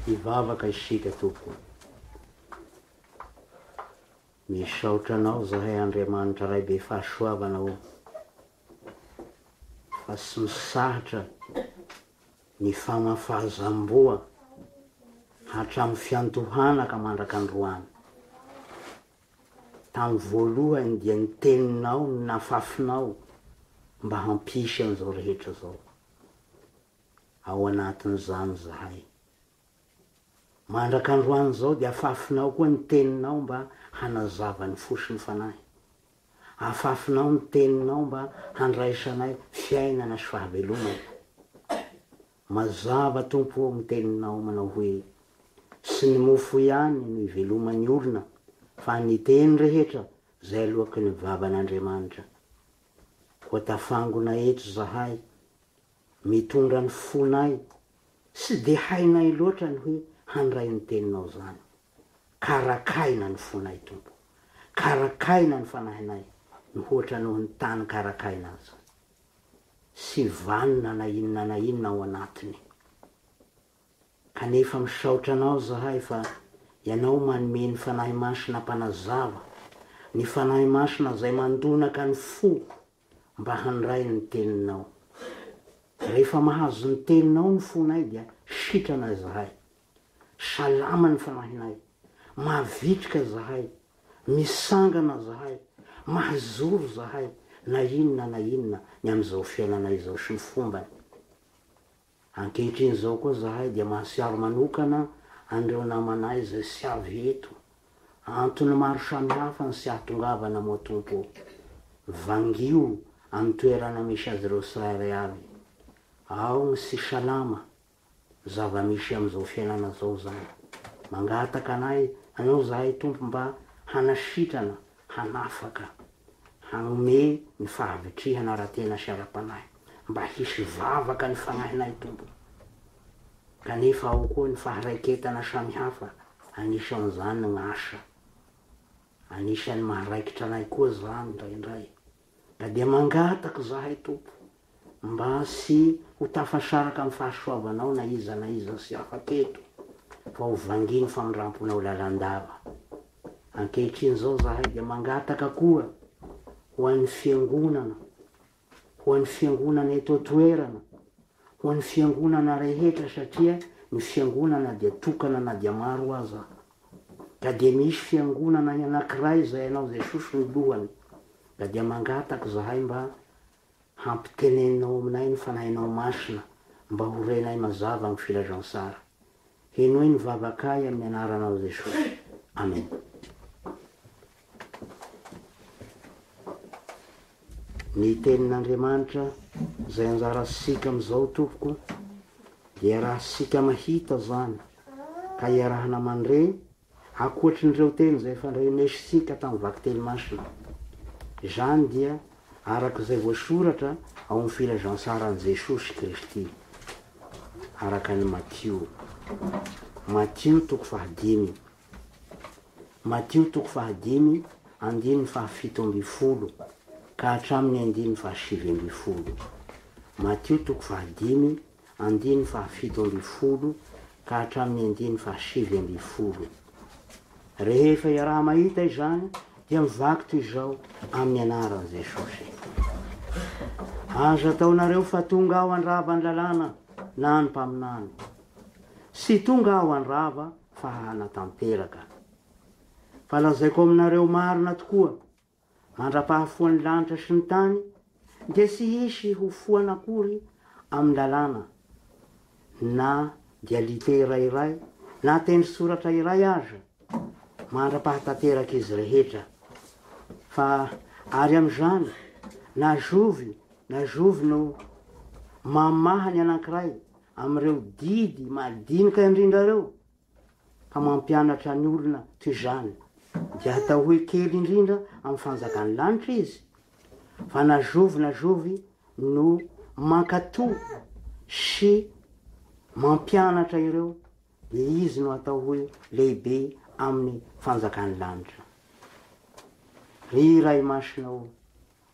Hivavaka isika tompoko. Misaotra anao zahay Andriamanitra Ray be fahasoavana o. Fa tsy misahatra ny famafazam-boa hatramin'ny fiantohana ka mandraka androany. Tamin'ny voalohany dia ny teninao no nafafinao mba hampisy an'izao rehetra zao. ao anatin'izany izahay. Mandraka androany izao dia afafinao koa ny teninao mba hanazava ny fo sy ny fanahy. Afafinao ny teninao mba handraisanay fiainana sy fahavelomana. Mazava Tompo ô ny teninao manao hoe, tsy ny mofo ihany no iveloman'ny olona fa ny teny rehetra izay aloaky ny vavan'Andriamanitra. Koa tafangona eto izahay Mitondra ny fonay, tsy dia hainay loatra ny hoe handray ny teninao izany. Karakaina ny fonay Tompo. Karakaina ny fanahinay mihoatra noho ny tany karakaina aza. Tsy vanona na inona na inona ao anatiny. Kanefa misaotra Anao izahay fa Ianao manome ny Fanahy Masina mpanazava, ny Fanahy Masina izay mandonaka ny foko. mba handray ny teninao. Rehefa mahazo ny teninao ny fonay dia sitrana izahay. Salama ny fanahinay. Mavitrika izahay. Misangana izahay. Mahazoro izahay na inona na inona ny amin'izao fiainanay izao sy ny fombany. Ankehitriny izao koa izahay dia mansiaro manokana an'ireo namanay izay tsy avy eto. Antony maro samihafa ny tsy hahatongavana moa Tompo ô. Vangio amin'ny toerana misy azy ireo tsirairay avy. Ao ny tsy salama. Zava-misy amin'izao fiainana izao izany. Mangataka anay Anao izahay Tompo mba hanasitrana hanafaka, hanome ny fahavitrihana ara-tena sy ara-panahy, mba hisy vavaka ny fanahinay Tompo, kanefa ao koa ny faharaiketana samihafa anisan'izany ny asa, anisan'ny maharaikitra anay koa zany indraindray, ka dia mangataka izahay Tompo, mba sy ho tafasaraka amin'ny fahasoavanao na iza na iza sy hafa teto fa ho vangian'ny famindramponao lalandava. Ankehitriny izao izahay dia mangataka koa ho an'ny Fiangonana, ho an'ny Fiangonana eto an-toerana, ho an'ny Fiangonana rehetra satria ny Fiangonana dia tokana na dia maro aza ka dia misy Fiangonana anankiray izay ianao Jesosy no lohany ka dia mangataka izahay mba Hampiteneninao aminay ny Fanahinao Masina mba ho renay mazava amin'ny Filazantsara. Henoy ny vavakay amin'ny Anaranao Jesosy. Amena. Ny Tenin'Andriamanitra izay anjarantsika amin'izao Tompoko dia iarahantsika mahita izany ka iarahana mandre Ankoatry ny ireo teny izay fandrenesntsika tamin'ny vakiteny masina, izany dia araka izay voasoratra ao amin'ny Filazantsaran'i Jesosy Kristy araka an'i Matio, Matio toko fahadimy, Matio toko fahadimy andininy fahafito ambin'ny folo ka hatramin'ny andininy fahasivy ambin'ny folo, Matio toko fahadimy Andininy fahafito ambin'ny folo ka hatramin'ny andininy fahasivy ambin'ny folo. Rehefa iaraha-mahita izany dia mivaky toy izao amin'ny anaran'i Jesosy. Aza ataonareo fa tonga aho handrava ny lalàna na ny mpaminany. Tsy tonga aho handrava fa hanatanteraka. Fa lazaiko aminareo marina tokoa, mandra-pahafoan'ny lanitra sy ny tany dia tsy hisy ho foana akory amin'ny lalàna na dia litera iray na teny soratra iray aza mandra-pahatanterak'izy rehetra, fa ary amin'izany na zovy na zovy no mamaha ny anankiray amin'ireo didy madinika indrindra ireo Ka mampianatra ny olona toy izany, dia atao hoe kely indrindra amin'ny fanjakan'ny lanitra izy, fa na zovy na zovy no mankato sy mampianatra ireo, dia izy no atao hoe lehibe amin'ny fanjakan'ny lanitra. Ry Ray Masina ô!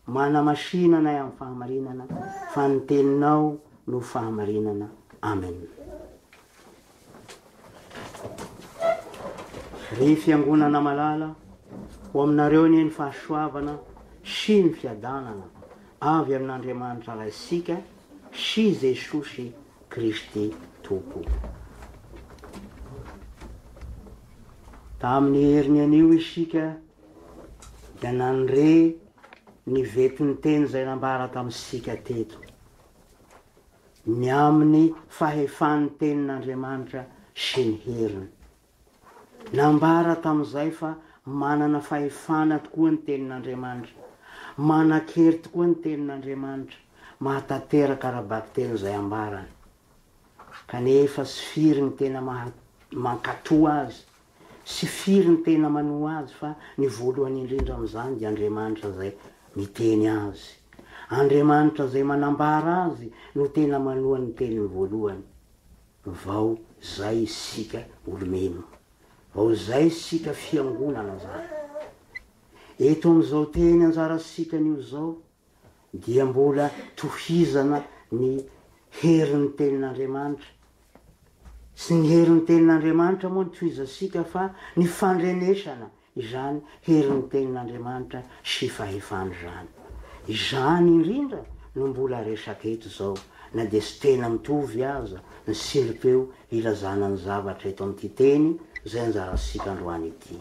Manamasina anay amin'ny fahamarinana fa ny teninao no fahamarinana. Amen. Ry fiangonana malala, ho aminareo anie ny fahasoavana sy ny fiadanana avy amin'Andriamanitra Raisika sy Jesosy Kristy Tompo. Tamin'ny heriny anio isika dia nandre ny vetin-teny izay nambara tamintsika teto, ny amin'ny fahefan'ny Tenin'Andriamanitra sy ny heriny. Nambara tamin'izay fa manana fahefana tokoa ny Tenin'Andriamanitra, manan-kery tokoa ny Tenin'Andriamanitra, mahatanteraka ara-bakiteny izay ambarany. Kanefa tsy firy ny tena mankatò azy. sy firy ny tena manoa Azy fa ny voalohany indrindra amin'izany dia Andriamanitra izay miteny Azy. Andriamanitra izay manambara Azy no tena manoa ny teniny voalohany. Vao izay isika olomeno. Vao izay isika fiangonana izany. Eto amin'izao teny anjarantsika anio izao dia mbola tohizana ny herin'ny tenin'Andriamanitra. Tsy ny herin'ny tenin'Andriamanitra moa no tohizantsika fa ny fandrenesana izany herin'ny tenin'Andriamanitra sy fahefany izany. Izany indrindra no mbola resaka eto izao na dia tsy tena mitovy aza ny siripeo ilazana ny zavatra eto amin'ity teny izay anjarantsika androany ity.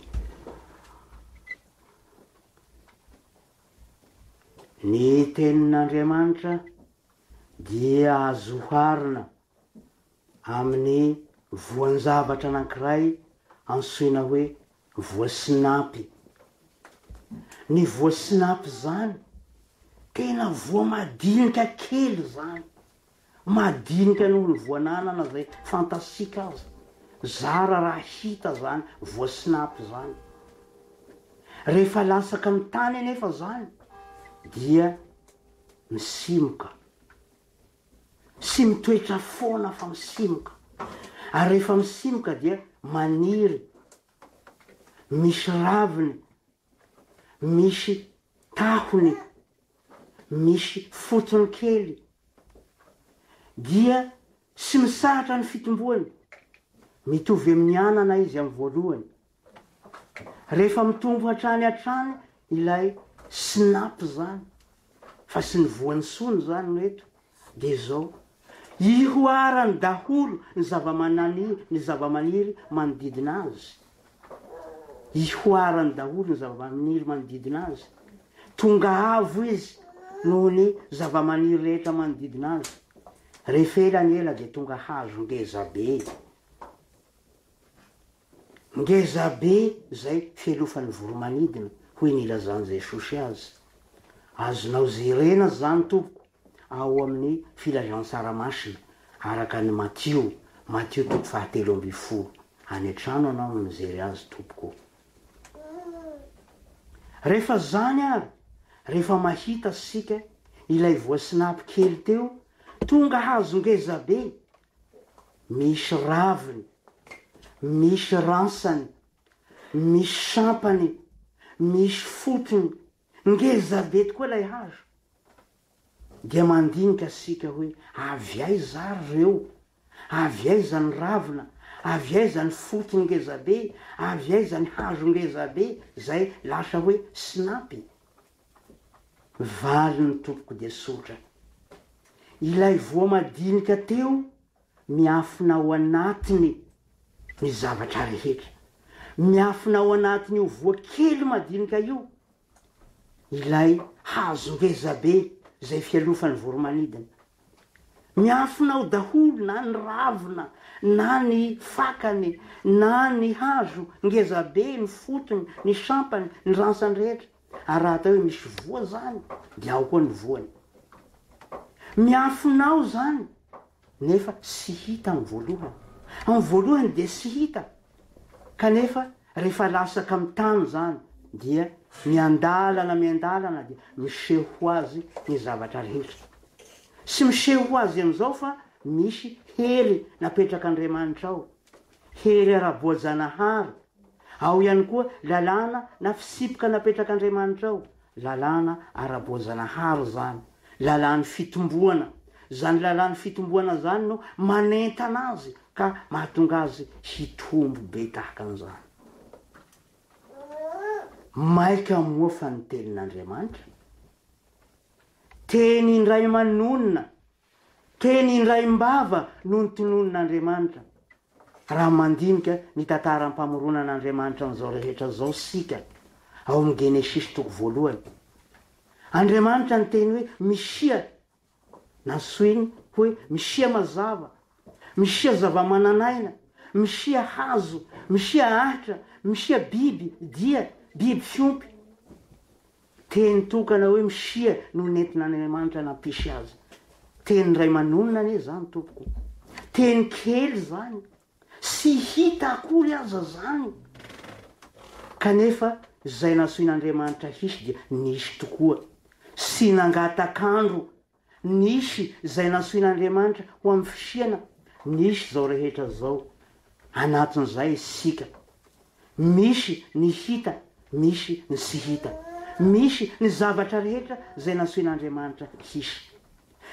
Ny Tenin'Andriamanitra dia azo oharina amin'ny voan-javatra anankiray antsoina hoe voasinapy. Ny voasinapy izany, tena voamadinika kely izany. Madinika noho ny voan'anana izay fantatsika aza. Zara raha hita izany voasnap izany. Rehefa latsaka ny tany anefa izany dia misimoka. Tsy mitoetra foana fa misimoka. Ary rehefa misimoka dia maniry. Misy raviny misy tahony, misy fotony kely, dia tsy mitsahatra ny fitomboany, mitovy amin'ny anana izy amin'ny voalohany, rehefa mitombo hatrany hatrany ilay SNAP izany. Fa sy ny voan'ny sony izany no eto dia izao, ihoarany daholo ny zavamanani ny zavamaniry manodidina azy, ihoarany daholo ny zavamaniry manodidina azy, tonga avo izy noho ny zavamaniry rehetra manodidina azy, rehefa ela ny ela dia tonga hazo ngeza be. Ngeza be izay fialofan'ny voromanidina, hoy ny ilazan'i Jesosy azy. Azonao jerena izany tompoko ao amin'ny Filazantsara Masina araka an'i Matio, Matio toko fahatelo ambin'ny folo. Any an-trano ianao no mijery azy tompoko o. Rehefa izany ary, rehefa mahita isika ilay voasinapo kely teo, tonga hahazo ngeza be Misy raviny, misy ransany, misy sampany, misy fotony, ngeza be tokoa ilay hazo. Dia mandinika isika hoe avy aiza ary ireo? Avy aiza ny ravina? Avy aiza ny fotony ngeza be? Avy aiza ny hazo ngeza be? Izay lasa hoe sinampy. Valiny tompoko dia sotra. Ilay voa madinika teo miafina ao anatiny ny zavatra rehetra. Miafina ao anatin'io voa kely madinika io ilay hazo ngezabe izay fialofan'ny voromanidina. Miafina ao daholo na ny ravina na ny fakany na ny hazo ngezabe, ny fotony, ny sampany, ny ransany rehetra. Ary raha atao hoe misy voa zany dia ao koa ny voany. Miafina ao zany nefa tsy hita amin'ny voalohany. Amin'ny voalohany dia tsy hita kanefa rehefa latsaka amin'ny tany zany dia miandalana miandalana dia miseho ho azy ny zavatra rehetra. Tsy miseho ho azy amin'izao fa misy hery napetrak'Andriamanitra ao. Hery ara-boajanahary, ao ihany koa lalàna na fisipoka napetrak'Andriamanitra ao, lalàna ara-boajanahary izany, lalàn'ny fitomboana, izany lalàn'ny fitomboana izany no manentana azy ka mahatonga azy hitombo be tahaka an'izany. Maika moa fa ny tenin'Andriamanitra, teny indray manonona Teny Indraimbava no notononin'Andriamanitra. Raha mandinika ny tantaram-pamoronan'Andriamanitra an'izao rehetra izao isika, ao amin'ny Genesisy toko voalohany, Andriamanitra niteny hoe Misia, nantsoiny hoe Misia mazava, Misia zava-manan'aina, Misia hazo, Misia ahitra, Misia biby, dia, biby fiompy. Teny tokana hoe Msia no nentin'Andriamanitra nampisy azy. Teny iray manonona anie izany tompoko. Teny kely izany, tsy hita akory aza izany. Kanefa izay nasoin'Andriamanitra hisy dia nisy tokoa, tsy nangataka andro Nisy izay nantsoin'Andriamanitra ho amin'ny fisiana, nisy izao rehetra izao. Anatin'izay isika. Misy ny hita, misy ny tsy hita. Misy ny zavatra rehetra izay nantsoin'Andriamanitra hisy.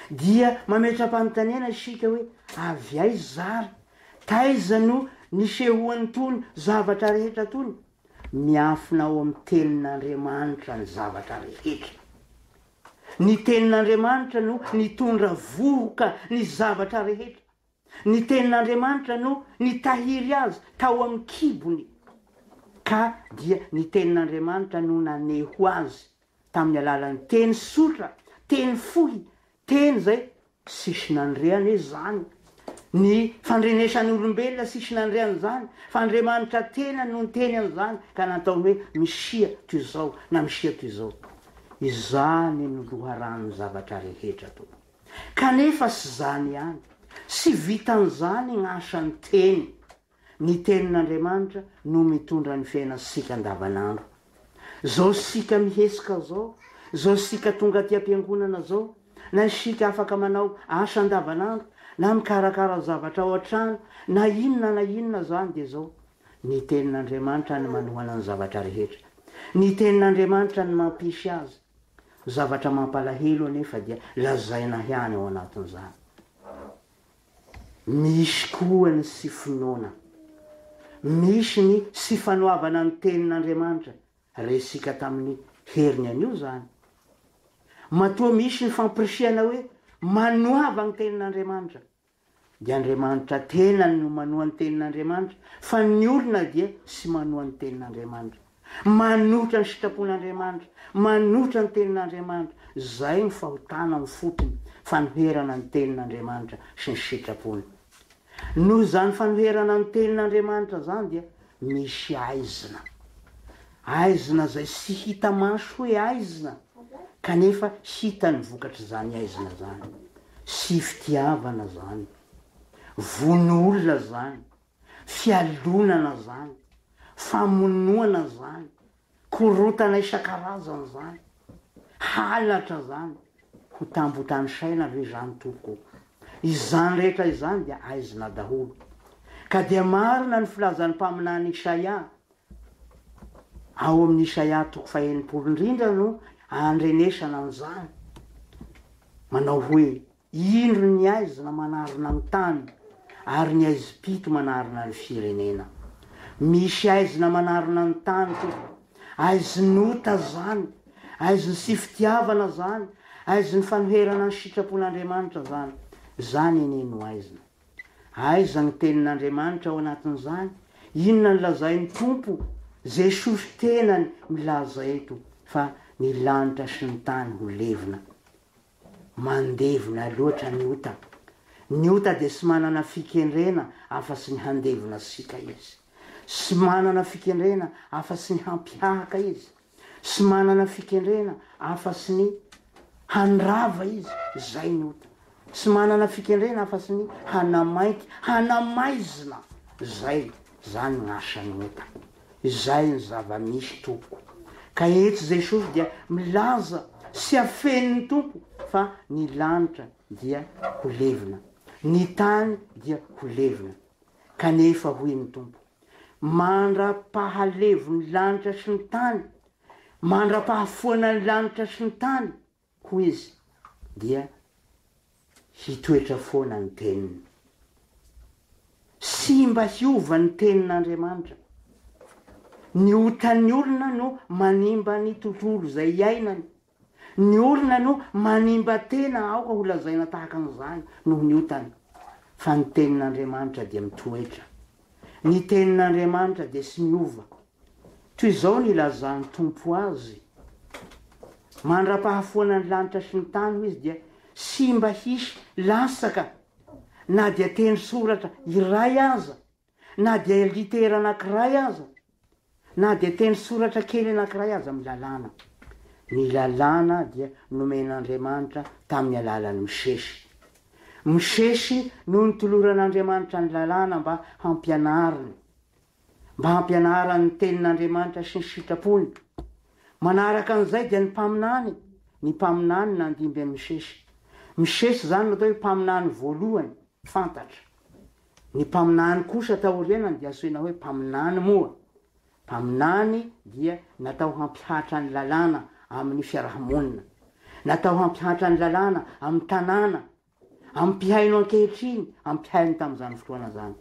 Dia mametra-panontaniana isika hoe, avy aiza izary? Taiza no nisehoan'itony zavatra rehetra itony? Miafina ao amin'ny Tenin'Andriamanitra ny zavatra rehetra. Ny Tenin'Andriamanitra no nitondra vohoka ny zavatra rehetra. Ny Tenin'Andriamanitra no nitahiry azy tao amin'ny kibony, ka dia ny Tenin'Andriamanitra no naneho azy tamin'ny alalan'ny teny sotra, teny fohy, teny izay Tsisy nandreany izy izany. Ny fandrenesan'ny olombelona tsisy nandreany izany, fa Andriamanitra tena no niteny an'izany ka nataony hoe misia toy izao na misia toy izao. Izany no loharanon'ny zavatra rehetra tompoko. Kanefa tsy izany ihany. Tsy vitan'izany ny asan'ny teny. Ny tenin'Andriamanitra no mitondra ny fiainantsika andavanandro. Zao sika mihesoka zao, zao sika tonga aty ampiangonana zao, na isika afaka manao asa andavanandro, na mikarakara zavatra ao an-trano, na inona na inona zany dia zao. Ny tenin'Andriamanitra ny manohana ny zavatra rehetra. Ny tenin'Andriamanitra ny mampisy azy. Zavatra mampalahelo anefa dia lazaina ihany ao anatin'izany. Misy koa ny sy finoana. Misy ny sy fanoavana ny tenin'Andriamanitra, resika tamin'ny heriny anio izany. Matoa misy ny fampirisihana hoe manoava ny tenin'Andriamanitra, dia Andriamanitra tenany no manoa ny tenin'Andriamanitra, fa ny olona dia sy manoa ny tenin'Andriamanitra. Manohitra ny sitrapon'Andriamanitra, manohitra ny tenin'Andriamanitra, izay no fahotana amin'ny fotony, fanoherana ny tenin'Andriamanitra sy ny sitrapony. Noho izany fanoherana ny tenin'Andriamanitra izany dia misy aizina. Aizina izay tsy hita maso hoe aizina, kanefa hita ny vokatr'izany aizina izany. Tsy fitiavana izany. Vono olona izany. Fialonana zany, famonoana zany, korotana isan-karazany zany, halatra zany, ho tambo tanisaina ve zany tompoko o? Izany rehetra izany dia aizina daholo. Ka dia marina ny filazan'ny mpaminany Isaia, ao amin'ny Isaia toko fahenimpolo, indrindra no andrenesana an'izany, manao hoe. Indro ny haizina manarona ny tany, ary ny haizim-pito manarona ny firenena. Misy haizina manarona ny tany tompoko, haizin'ota zany, haizin' sy fitiavana zany, haizin' fanoherana ny sitrapon' Andriamanitra zany. Zany anie no haizina. Aiza ny tenin' Andriamanitra ao anatin' zany? Inona ny lazainy Tompo? Jesosy tenany milaza eto fa ny lanitra sy ny tany ho levona. Mandevona loatra ny ota. Ny ota dia tsy manana fikendrena afa-tsy ny handevona siaka izy. Tsy manana fikendrena afa-tsy ny hampihahaka izy. Tsy manana fikendrena afa-tsy ny handrava izy. Izay ny ota. Tsy manana fikendrena afa-tsy ny hanamainty, hanamaizina. Izay. Izany ny asan'ny ota. Izay ny zava-misy tompoko. Ka etsy Jesosy dia milaza sy afenin' ny Tompo fa ny lanitra dia ho levona, ny tany dia ho levona. Kanefa hoy ny Tompo, Mandra-pahalevon' ny lanitra sy ny tany, mandra-pahafoanan' ny lanitra sy ny tany, Hoy izy, dia hitoetra foana ny teniny. Sy mba hiova ny tenin'Andriamanitra. Ny otan'ny olona no manimba ny tontolo izay iainany. Ny olona no manimba tena, aoka ho lazaina tahaka an'izany, noho ny otany. Fa ny tenin'Andriamanitra dia mitoetra. Ny tenin'Andriamanitra dia sy miova. Toy izao no ilazan'ny Tompo azy, Mandra-pahafoana ny lanitra sy ny tany, hoy Izy, dia tsy mba hisy latsaka na dia teny soratra iray aza, na dia litera anankiray aza, na dia teny soratra kely anankiray aza amin'ny lalàna. Ny lalàna dia nomen'Andriamanitra tamin'ny alalan'i Mosesy. Mosesy no nitoloran'Andriamanitra ny lalàna mba hampianariny. mba hampianarany ny Tenin'Andriamanitra sy ny sitrapony. Manaraka an'izay dia ny mpaminany, ny mpaminany nandimby an'i Misesy. Misesy izany no atao hoe mpaminany voalohany fantatra. Ny mpaminany kosa taorianany dia antsoina hoe mpaminany moa. Mpaminany dia natao hampihatra ny lalàna amin'ny fiaraha-monina. Natao hampihatra ny lalàna amin'ny tanàna ampihaino ankehitriny, ampihaino tamin'izany fotoana izany.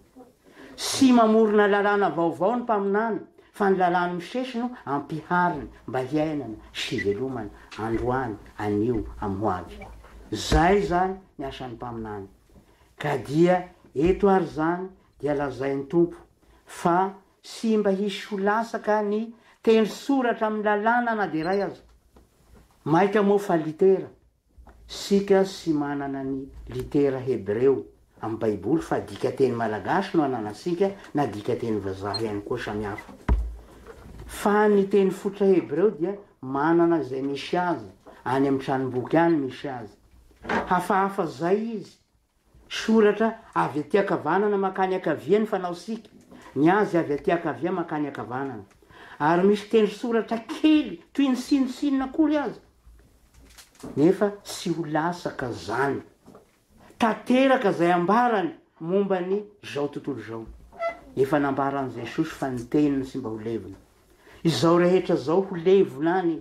Sy mamorona lalàna vaovao ny Mpaminany, fa ny lalàn'i Mosesy no ampihariny mba hiainana sy hivelomana androany, anio, amin'ny hoavy. Izay izany ny asan'ny Mpaminany. Ka dia eto ary izany dia lazain'ny Tompo fa sy mba hisy ho lasaka ny teny soratra amin'ny lalàna na dia iray aza. Maika moa fa litera. Isika sy manana ny litera hebreo amin'ny baiboly fa dikateny malagasy no ananantsika na dikateny vazaha ihany koa samihafa. Fa ny teny fototra hebreo dia manana izay misy azy, any amin'ny tranomboky any misy azy. Hafahafa izay izy Soratra avy aty ankavanana mankany ankavia ny fanao sika, ny azy avy aty ankavia mankany ankavanana. Ary misy tendrosoratra kely toy ny sinosinona akory aza, nefa tsy ho lasaka zany. Tanteraka zay ambarany momba ny zao tontolo zao. Efa nambaran'i Jesosy fa ny teniny tsy mba ho levona. Izao rehetra zao ho levona any.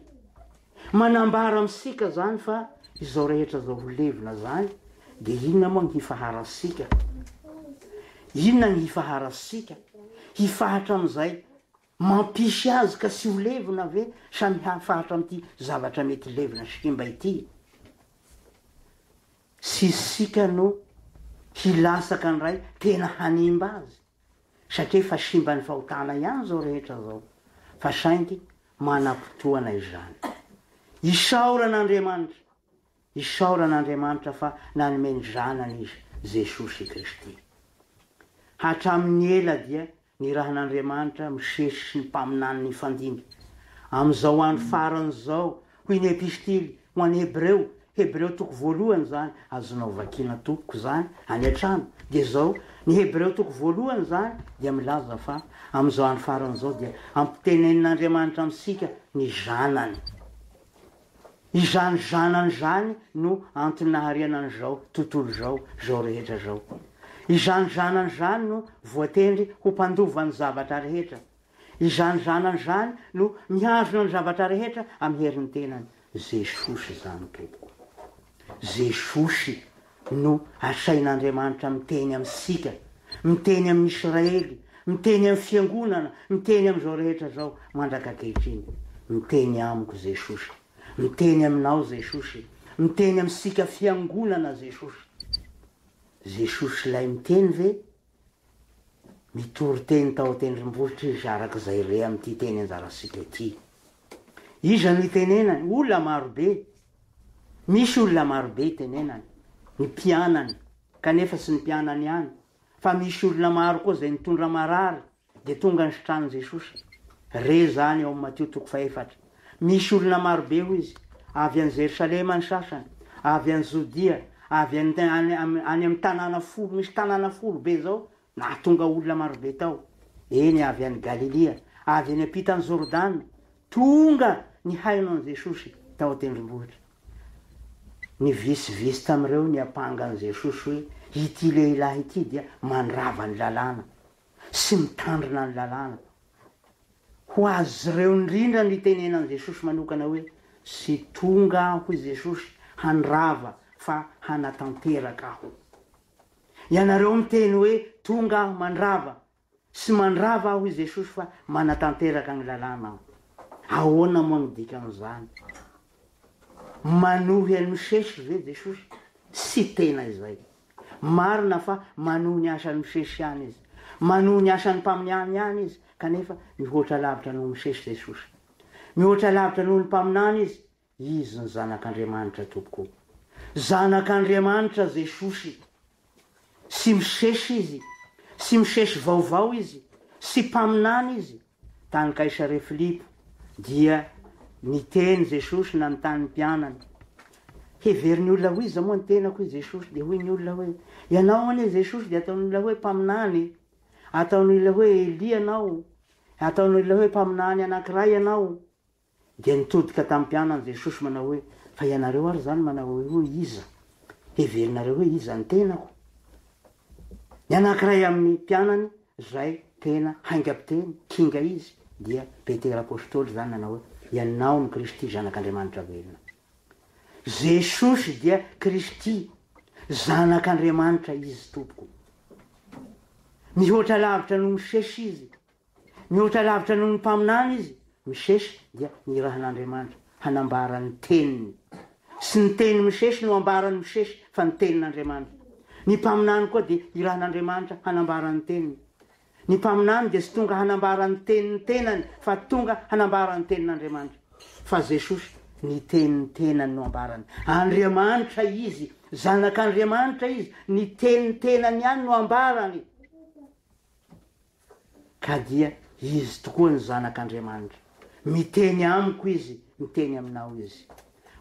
Manambara amintsika zany fa izao rehetra zao ho levona zany de inona moa ny hifaharantsika? Inona ny hifaharantsika? Hifahatra amin'izay mampisy azy ka tsy ho levona ve sa mihafahatra amin'ity zavatra mety levona sy simba ity? Tsy isika no hilatsaka ndray tena hanimba azy. satria efa simban'ny fahotana ihany izao rehetra izao fa saingy manam-potoana izany. Isaorana Andriamanitra, isaorana Andriamanitra fa nanome ny Zanany Izy, Jesosy Kristy. Hatramin'ny ela dia nirahan'Andriamanitra misesy sy ny mpaminany nifandimby. Amin'izao andro farany izao Hoy ny Epistily ho an'ny Hebreo, Hebreo toko voalohany izany, azonao vakiana tompoko izany any an-trano, dia izao, ny Hebreo toko voalohany izany dia milaza fa amin'izao andro farany izao dia ampitenenin'Andriamanitra amintsika ny Zanany. Izany Zanany izany no antony nahariana an'izao tontolo izao, izao rehetra izao. Izany Zanany izany no voatendry ho mpandova ny zavatra rehetra. Izany zanany izany no mihazona ny zavatra rehetra amin'ny herin'ny tenany. Jesosy izany tompoko. Jesosy no asain'Andriamanitra miteny amintsika, miteny amin'ny Israely, miteny amin'ny fiangonana, miteny amin'izao rehetra izao mandraka ankehitriny. Miteny amiko Jesosy. Miteny aminao Jesosy. Miteny amintsika fiangonana Jesosy. Jesosy ilay miteny ve? Nitory teny tao an-tendrombohitra izy araka izay re amin'ity teny anjarantsika ity. Iza no itenenany? Olona marobe. Misy olona marobe itenenany, ny mpianany, kanefa tsy ny mpianany ihany, fa misy olona maro koa izay nitondra marary, Dia tonga ny sitranin'i Jesosy. Re izany ao amin'ny Matio toko fahefatra. Misy olona maro be, hoy izy, avy any Jerosalema ny sasany, avy any Jodia, avy any, any, any amin'ny tanàna folo, misy tanàna folo be izao, nahatonga olona maro be tao. Eny, avy any Galilia, avy eny am-pitan'i Jordana, tonga nihaino an'i Jesosy tao an-tendrombohitra. Nivitsivitsy tamin'ireo niampanga an'i Jesosy hoe, Ity lehilahy ity dia mandrava ny Lalàna. sy mitandrina ny lalàna. Ho azy ireo indrindra no itenenan'i Jesosy manokana hoe, Tsy tonga aho, hoy Jesosy, handrava, fa hanatanteraka aho. Ianareo miteny hoe, Tonga aho mandrava. Tsy mandrava aho, hoy Jesosy, fa manatanteraka ny lalàna aho. Ahoana moa no dikan'izany? Manohy an'i Mosesy ve Jesosy? Tsy tena izay. Marina fa manohy ny asan'i Mosesy ihany izy. Manohy ny asan'ny mpaminany ihany izy, kanefa mihoatra lavitra noho Mosesy Jesosy. Mihoatra lavitra noho ny mpaminany izy, izy ny Zanak'Andriamanitra tompoko. Zanak'Andriamanitra Jesosy. Tsy Mosesy izy. Tsy Mosesy vaovao izy. Tsy mpaminany izy. Tany Kaisarea Filipo, dia niteny Jesosy nanontany ny mpianany, Heverin'ny olona ho iza moa ny tenako? hoy Jesosy. Dia hoy ny olona hoe, Ianao anie Jesosy, dia ataon'ny olona hoe mpaminany, ataon'ny olona hoe Elia ianao, ataon'ny olona hoe mpaminany anankiray ianao, Dia nitodika tamin'ny mpianany Jesosy manao hoe, Fa ianareo ary izany manao hoe, hoe iza? Heverinareo hoe iza ny tenako? Ny anankiray amin'ny mpianany izay tena haingam-piteny, kinga izy, dia Petera Apostoly izany nanao hoe, Ianao no Kristy, Zanak'Andriamanitra velona. Jesosy dia Kristy, Zanak'Andriamanitra Izy tompoko. Mihoatra lavitra an'i Mosesy Izy. Mihoatra lavitra noho ny mpaminany izy, Misesy dia nirahan'Andriamanitra hanambara ny teniny. Tsy ny teny misesy no ambaran'i Misesy fa ny tenin'Andriamanitra. Ny mpaminany koa dia irahan'Andriamanitra hanambara ny teniny. Ny mpaminany dia tsy tonga hanambara ny tenin'ny tenany fa tonga hanambara ny tenin'Andriamanitra. Fa Jesosy ny tenin'ny tenany no ambarany. Andriamanitra Izy, Zanak'Andriamanitra Izy, ny tenin'ny tenany ihany no ambarany. Ka dia Izy tokoa ny Zanak' Andriamanitra. Miteny amiko Izy, miteny aminao Izy.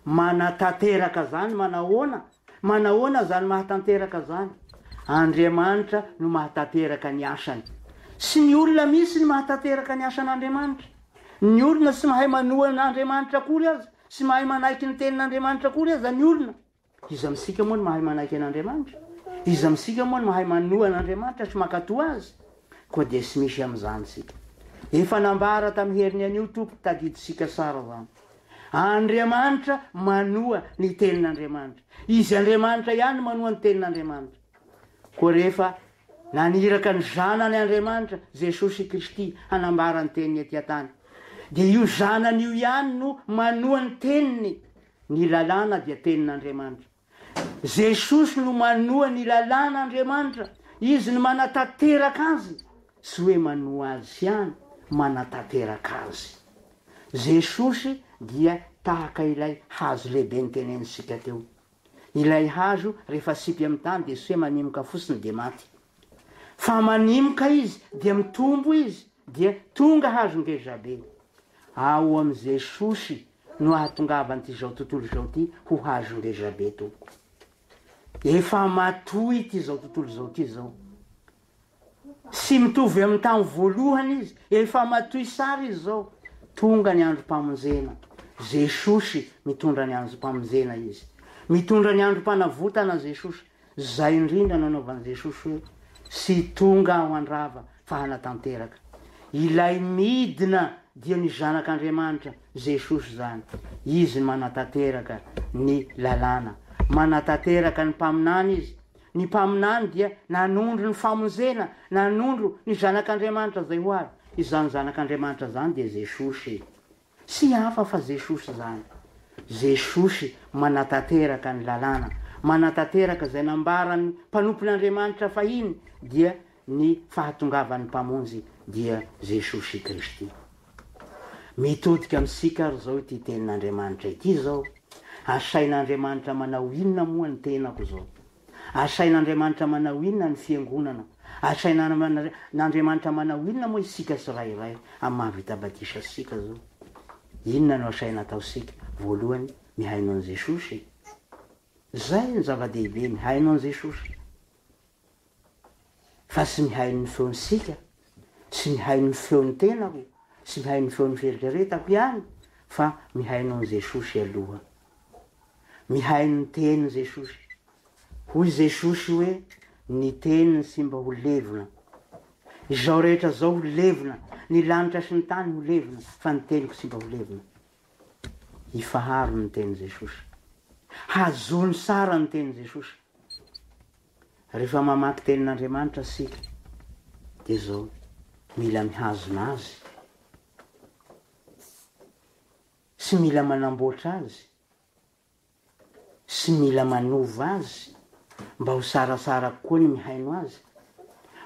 Manatanteraka izany manahoana? Manahoana izany mahatanteraka izany? Andriamanitra no mahatanteraka ny asany. Tsy ny olona mihitsy ny mahatanteraka ny asan' Andriamanitra. Ny olona tsy mahay manohana Andriamanitra akory aza, tsy mahay manaiky ny tenin' Andriamanitra akory aza ny olona. Iza amintsika moa no mahay manaiky an'Andriamanitra? Iza amintsika moa no mahay manoa an'Andriamanitra sy mankatò Azy? Koa dia tsy misy amin'izany isika. Efa nambara tamin'ny heriny anio Tompo, tadidintsika tsara izany. Andriamanitra manoa ny Tenin'Andriamanitra. Izy Andriamanitra ihany no manoa ny Tenin'Andriamanitra. Koa rehefa naniraka ny Zanany Andriamanitra, Jesosy Kristy, hanambara ny Teniny aty an-tany, dia io Zanany io ihany no manoa ny Teniny Ny lalàna dia tenin'Andriamanitra. Jesosy no manoa ny lalàn'Andriamanitra. Izy no manatanteraka azy. Tsy hoe manoa azy ihany, manatanteraka azy. Jesosy dia tahaka ilay hazo lehibe notenenintsika teo. Ilay hazo rehefa asipy amin'ny tany dia tsy hoe manimoka fotsiny dia maty. Fa manimoka izy dia mitombo izy dia tonga hazo ngezabe. Ao amin'i Jesosy no ahatongavan'it'izao tontolo izao ity ho hazo ngezabe tompoko. Efa matoa ity zao tontolo izao ity zao. Tsy mitovy amin'ny tamin'ny voalohany izy, efa matoy sary izy zao. Tonga ny androm-pamonjena. Jesosy mitondra ny androm-pamonjena izy. Mitondra ny androm-panavotana Jesosy. Izay indrindra nanaovan'i Jesosy hoe tsy tonga aho handrava fa hanatanteraka. Ilay midina dia ny Zanak'Andriamanitra, Jesosy izany. Izy manatanteraka ny lalàna. Manatanteraka ny mpaminany izy. Ny mpaminany dia nanondro ny famonjena, nanondro ny Zanak'Andriamanitra izay ho avy. Izany Zanak'Andriamanitra izany dia Jesosy. Tsy hafa fa Jesosy izany. Jesosy manatanteraka ny Lalàna, manatanteraka izay nambaran'ny mpanompon'Andriamanitra fahiny, dia ny fahatongavan'ny Mpamonjy, dia Jesosy Kristy. Mitodika amintsika ary izao ity Tenin'Andriamanitra ity izao, Asain'Andriamanitra manao inona moa ny tenako izao? Asain'Andriamanitra manao inona ny Fiangonana? Asain'Andriamanitra manao inona moa isika tsirairay amin'ny mahavita batisa antsika izao? Inona no asaina ataontsika? Voalohany, mihaino an'i Jesosy. Izay no zava-dehibe, mihaino an'i Jesosy. fa tsy ny hain'ny feon'ny sica, tsy ny hain'ny feon'ny tenako, tsy ny hain'ny feon'ny fieritreretako ihany fa mihaino an'i Jesosy aloha. Mihaino ny tenin'i Jesosy. Hoy Jesosy hoe ny teniny tsy mba ho levona. Izao rehetra izao ho levona, ny lanitra sy ny tany ho levona fa ny teniko tsy mba ho levona. Ifaharo ny tenin'i Jesosy. Hajono tsara ny tenin'i Jesosy. Rehefa mamaky tenin'Andriamanitra isika dia izao, mila mihazona azy sy mila manamboatra azy sy mila manova azy mba ho sarasara kokoa ny mihaino azy,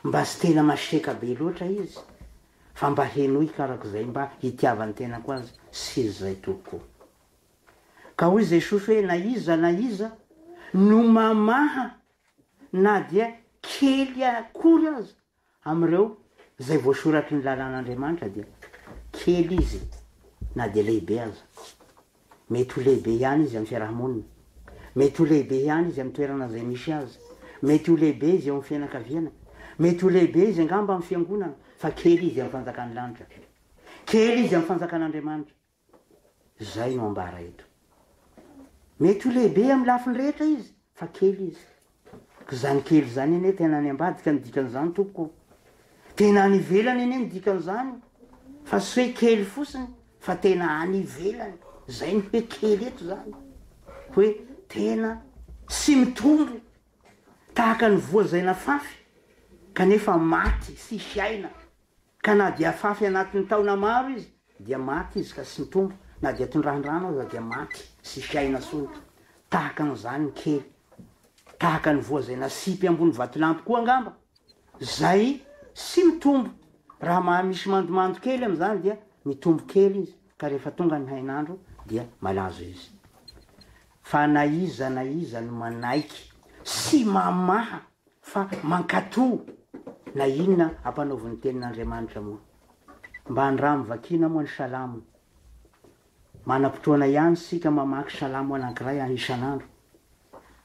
mba tsy tena masiaka be loatra izy fa mba henoiko arak'izay mba hitiavan'ny tenako azy sy izy izay tompoko. Ka hoy Jesosy hoe na iza na iza no mamaha na dia kely akory aza amin'ireo izay voasoratry ny lalàn'Andriamanitra dia kely izy na dia lehibe aza. Mety ho lehibe ihany izy amin'ny fiaraha-monina, mety ho lehibe ihany izy amin'ny toerana izay misy azy, mety ho lehibe izy eo amin'ny fianakaviana, mety ho lehibe izy angamba amin'ny fiangonana fa kely izy amin'ny fanjakan'ny lanitra. Kely izy amin'ny fanjakan'Andriamanitra. Izay no ambara eto. Mety ho lehibe amin'ny lafiny rehetra izy, fa kely izy. Ka izany kely izany anie tena any ambadika ny dikan'izany tompoko ô. Tena any ivelany anie ny dikan'izany. Fa tsy hoe kely fotsiny, fa tena any ivelany. Izay no hoe kely eto izany. Hoe tena tsy mitombo, tahaka ny voa izay nafafy, kanefa maty, tsy hiaina. Ka na dia afafy anatin'ny taona maro izy dia maty izy ka sintombo, na dia tondrahan-drano aza dia maty sy fiaina solika. Tahaka an'izany ny kely. Tahaka ny voa izay nasipy ambony vatolampy koa angamba, izay sy mitombo, raha maha misy mandomando kely amin'izany dia mitombo kely izy ka rehefa tonga ny hainandro dia malazo izy. Fa na iza na iza no manaiky sy mamaha Fa mankato na inona ampanaovy ny tenin'Andriamanitra moa. Mba andramo vakiana moa ny salamo. Manam-potoana ihany isika mamaky salamo anankiray any isan'andro.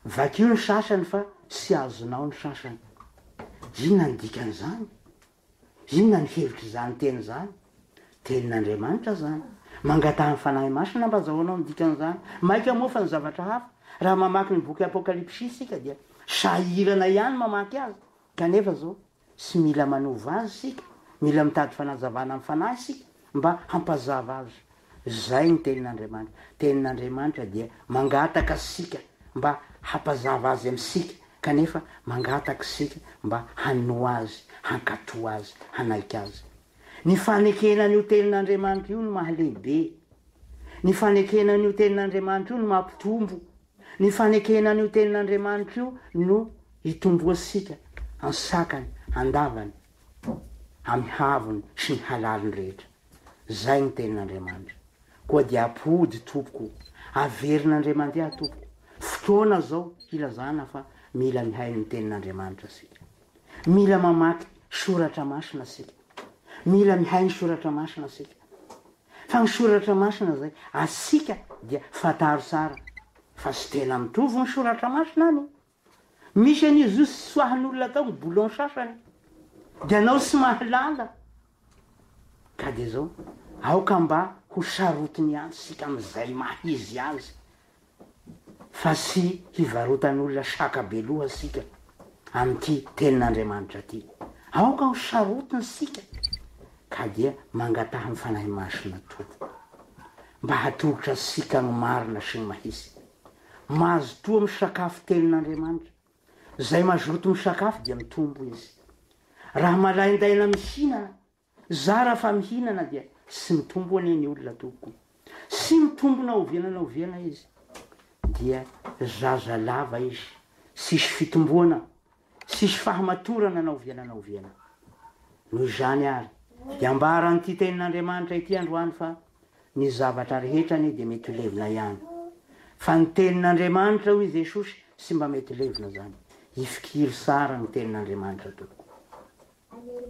Vakio ny sasany fa tsy azonao ny sasany. Inona ny dikan'izany? Inona ny hevitr'izany teny izany? Tenin'Andriamanitra izany. Mangataha ny Fanahy Masina mba hazahoanao ny dikan'izany. Maika hamoafy ny zavatra hafa. Raha mamaky ny boky Apokalypsy isika dia sahirana ihany mamaky azy. Kanefa izao, tsy mila manova azy isika, mila mitady fanazavana amin'ny Fanahy isika mba hampazava azy. Izay ny Tenin'Andriamanitra. Tenin'Andriamanitra dia mangataka antsika mba hampazava Azy amintsika, kanefa mangataka isika mba hanoa Azy, hankatò Azy, hanaiky Azy. Ny fanekena an'io Tenin'Andriamanitra io no mahalehibe. Ny fanekena an'io Tenin'Andriamanitra io no mampitombo. Ny fanekena an'io Tenin'Andriamanitra io no itomboantsika ansakany, andavany, amin'ny havony sy ny halaliny rehetra. Izay no tenin'Andriamanitra. Koa dia ampody tompoko o. Averina Andriamandiahy tompoko. Fotoana izao hilazana fa mila mihaino ny tenin'Andriamanitra isika. Mila mamaky soratra masina isika. Mila mihaino soratra masina isika. Fa ny soratra masina izay asika dia fantaro tsara fa tsy tena mitovy ny soratra masina any. Misy an'io zo sy soahan'olona atao ny boulon sasany. Dia anao sy mahalala. Ka dia zao, aoka mba ho sarotiny ihany sika amin'izay maha izy azy fa sy hivarotan'olona saka be loha sika amin'ity tenin'Andriamanitra ty. Aoka ho sarotiny sika ka dia mangataha ny Fanahy Masina Tompo mba hatolotra sika ny marina sy ny mahisy. Mazotoa misakafo tenin'Andriamanitra. Izay mazoto misakafo dia mitombo izy. Raha malaindaina mihinana, zara fa mihinana dia tsy mitombo anie ny olona tompoko. Tsy mitombo na oviana na oviana izy dia zaza lava izy, tsisy fitomboana. Tsisy fahamatorana na oviana na oviana. Noho izany àry, dia ambaran'ity Tenin'Andriamanitra ity androany fa ny zavatra rehetra anie dia mety ho levona ihany. Fa ny Tenin'Andriamanitra, hoy i Jesosy, tsy mba mety levona izany. Ifikiry tsara ny Tenin'Andriamanitra tompoko.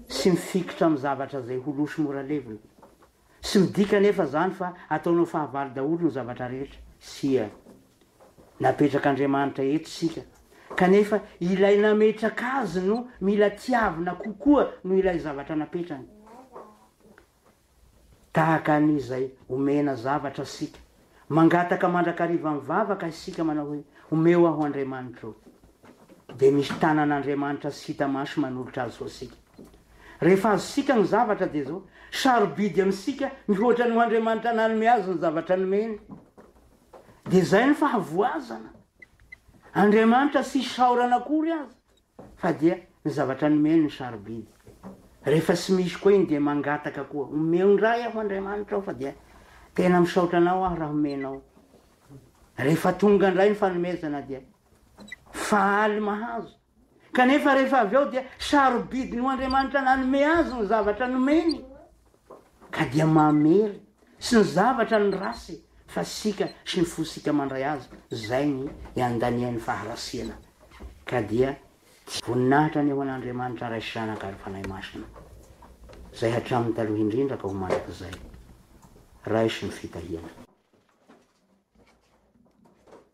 sy mifikitra amin'ny zavatra izay ho loso mora levona. Tsy midika anefa izany fa ataonao fahavalo daholo ny zavatra rehetra. Tsia. Napetrak'Andriamanitra eto isika, kanefa ilay nametraka azy no mila tiavina kokoa noho ilay zavatra napetrany. Tahaka ny izay omena zavatra isika, mangataka mandrakariva mivavaka isika manao hoe, Omeo aho Andriamanitra o. Dia misy tanan'Andriamanitra tsy hita maso manolotra azy ho antsika. Rehefa azontsika ny zavatra dia izao, sarobidy amintsika mihoatra ny ho Andriamanitra nanome azy ny zavatra nomeny. Dia izay ny fahavoazana. Andriamanitra tsy isaorana akory aza. fa dia ny zavatra nomeny no sarobidy. Rehefa tsy misy koa iny dia mangataka koa, omeo indray aho Andriamanitra ao fa dia tena misaotra anao aho raha omenao. Rehefa tonga indray ny fanomezana dia faly mahazo. Kanefa rehefa avy eo dia sarobidy ny ho Andriamanitra nanome azy ny zavatra nomeny. ka dia mamery sy ny zavatra ny race fa sika sy ny fosika mandray azy zay ny iandaniany faharasiana ka dia tsy voninahitra ny ho an'Andriamanitra Ray sy Zanaka ary Fanahy Masina zay hatramin'ny taloha indrindra ka ho mandrakizay raiso ny fitahiana.